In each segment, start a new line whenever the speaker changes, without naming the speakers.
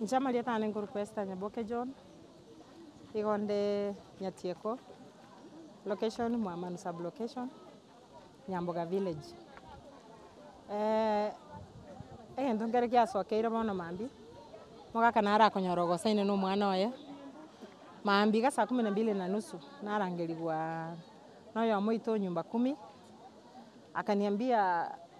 Inche amarieta aane nkorokwa Esther Nyaboke John, igo nde Nyatieko, location Mwamanu sub location, Nyamboga village. egento nkere giasokeire bono mambia, omogaka naro akonyora ogosainwa na omwana oye, mambia iga saa kumi na mbili na nusu narangerigwa na oyomo oito o nyumba kumi, akaniambia.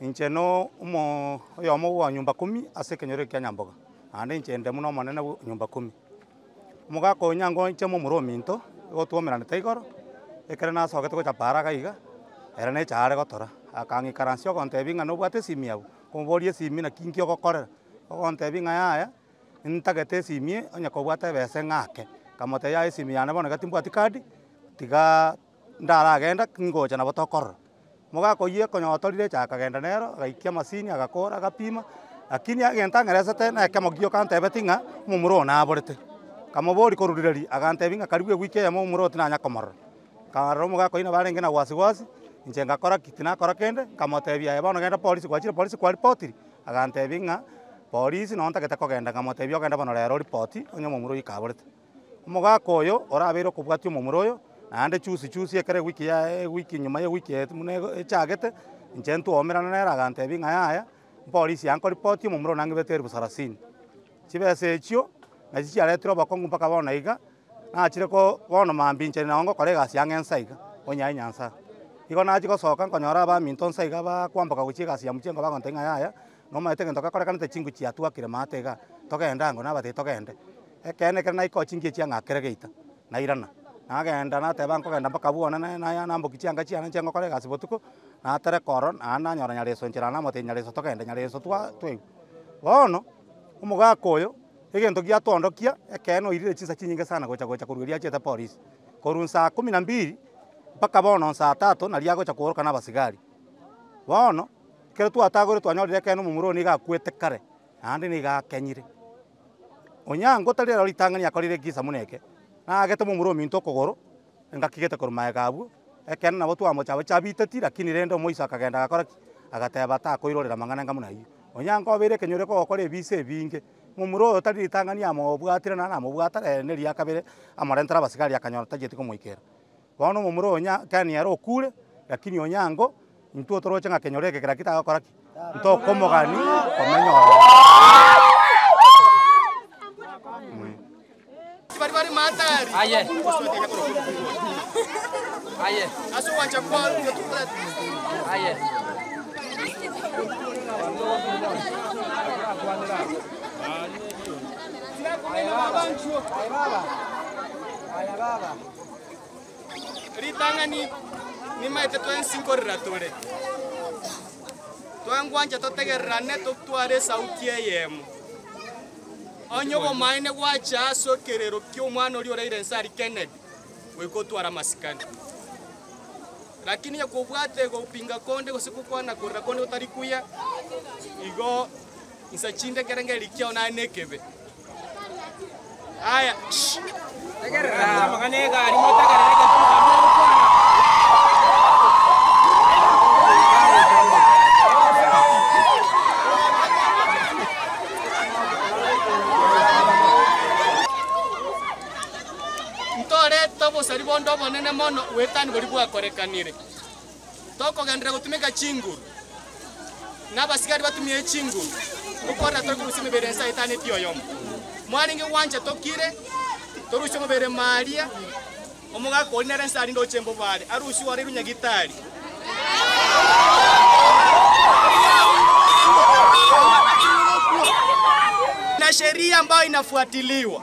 Inche na
oyomo bwa nyomba kumi ase ekenyoro ekia nyamboga, naende inche inde buna omonene bwa nyomba kumi. Omogaka oyo nyangoiche ime omoro ominto, nigo twaumeranete igoro, ekero nasogete gochapa haraka iga, ere na eche aare gotora, akang'ikaransia ogontebia ng'a nobwate esimi abwo, nkomoboria esimi naki inki ogokorera? Ogontebia ng'a yaya, ntagete esimi onye kobwate ebese ng'ake. Nkamotebia yaya esimi yane bono iga timbwati kadi, tigaaa. Ndaragenda, ningocha nabo tokorora. Mogaka oyio ekonyora torire echa akagenda nero, agaikia amasini agakora agapima, lakini egento ang'eresete na ekemo gio kantebeti ng'a omomura oyo naborete. Nkamobori koruriraria, agantebi ng'a karibu ewiki eyemo omomura oyo tinanya komorora. Nkarora omogaka oyio nabo arenge na wasi wasi, inche ngakora ki? Tinakora kende, nkamotebia aye bono genda polisi, gwachire polisi kwa ripotiri? Agantebi ng'a polisi noo ntagete kogenda, nkamotebia ogende bono rero oripoti onye omomura oyio kaborete. Omogaka oyo orabeire okobwatia omomura oyo, naende chusi chusi ekero ewiki yaye, ewiki nyuma y'ewiki eye buna echagete, inche ntwomerana nere agantebi ng'a yaya, mpolisi yaye nkoripoti omomura one ang'ibete erifu sarasini. Chibesa echio nachi chiaretire obokong'u mpaka bono iga, nachire ko bono mambia inche nao ngokora egasi ang'e nsa iga, onyaye Nyasae. Igo nachia gosoka nkonyora abaminto nsa iga bakwamboka gochia egasi ya mchengo bagontebia ng'a yaya. Nomaete egento gakorekanete chinguru chiatwakire maate iga, togende ango nabatebia togende. Ekeene ekero naikoo chingiya chiang'a akere geita, nairana, nagenda nateba nkogenda mpaka bono na- na- namboki chianga chiane nche ngokora egasi botuko, natereka oro naende nanyora Nyareso nchera naende namotebia Nyareso togende, Nyareso twa twaigwa. Bono, omogaka oyo, egento giatoondokia, ekeene oirire chinsa chinyinge sana gocha gocha korwa erio achete polisi. Korwa saa kumi na mbiri, mpaka bono saa tatu, naria agocha kooroka nabasigari. Bono, Ekero twatagoire twanyorire ekeene omomura oo nigo akwete kare, naende nigo akenyire. Onyango otari rero ritang'ani akorire ekegisa buna eke, naagete momura ominto okogoro, engaki gete korwa magega abwo, ekeene nabo twamocha abache abiteti, rakini rende omoiso akagenda agakora ki? Agateba takoirorera amang'ana enga buna ayio. Onyango obeire ekenyoro ekogokora ebiisa ebinge, momura oyo tari ritang'ani amobwatire naende namobwata, rende riakabere amorentere abasigari akanyora tachieti komoikera. Bono omomura oyo onye kani ere okuure, lakini onyango, intwo toroche ng'a kenyoro eke kera ki tagokora ki? Ntokomogani komenya ororo.
Ritang'ani, Nimaete twensi nkorera tore, twengwanche totegererane totware esauti eyemo. Onye obomaene gwacha ase ekerero ki'omwana oria oraire inse aria Kennedy, goika otware amasikani. Lakini onye kobwate gopinga konde gose gokwana korera konde gotari kuya, igo Insa chinde kera ngeri kiao nare nekebe. Aya,
shh.
Ntorete obosari bonde obonene mono, oboetani boria bwakorekanire. Tokogenderera gotumeka chinguru, na abasigari batumie chinguru, ngokorera tore korusia emebere ensa etano etioyomo. Mwarenge gwancha tokire, torusie omobere Maria, omogaka oria nere ensa arinde ochemba obware, arusiwe orairwe nyagitari. Na sheria ambayo inafuatiliwa.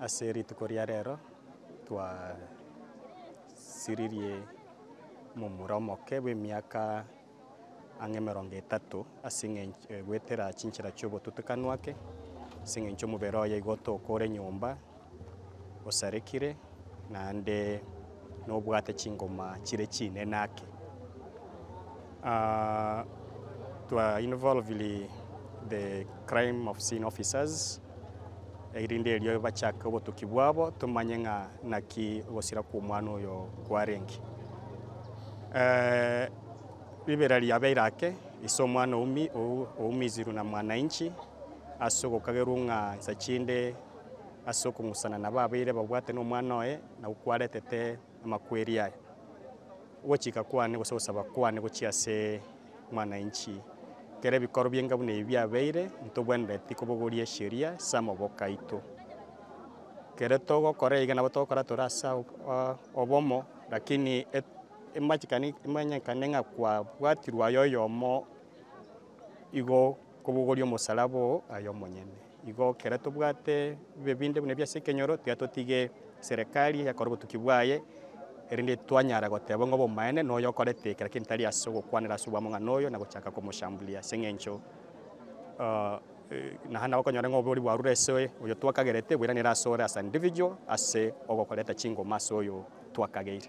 Ase rituko ria rero twasiririe momura omoke bw'emiaka ang'e emerongo etato ase eng'ench- eh, goetera chinchera chi'obotutikanu ake, ase eng'encho omobere oye igo otooka ore nyomba, osarekire. naende nobwate chingoma chire chinene ake. Twa involviri the crime of scene officers erinde erio bachake obotuki bwabo tomanye ng'a naki ogosira kw'omwana oyo kwarenge. Ribera riabeire ake ase omwana oumi- ou- oumizirwe na mwananchi ase ogokagerwa ng'a nsa chinde. ase okong'usana nabo abaire babwate nomwana oye na gokwaretete amakweri aya. Ogochika kwane gose ogosaba kwane gochia ase mwananchi, kera ebikoro bi'enga buna ebi biabeire, ntobwenereti kobogoria esheria ase amaboka aito. Kere togokora iga nabo togokora tore ase obomo, lakini emanyekane ng'a kwabwatirwe aye oyomo igo Kobogoria omosalaba oo aye omonyene. Igo ekero tobwate bibe binde buna ebi ase ekenyoro, tiga totige Serekari yakore obotuki bwaye, erinde twanyara goteba ng'a obomaene noyo okorete kera kento tari ase ogokwanera ase obwamong'ana oyo na gochaka komoshambulia, ase eng'encho naende nabo okonyora ng'a oboori bwarure ase oye oyo twakagerete boiranire ase ore as an individual ase ogokoreta chingoma ase oyo twakageire.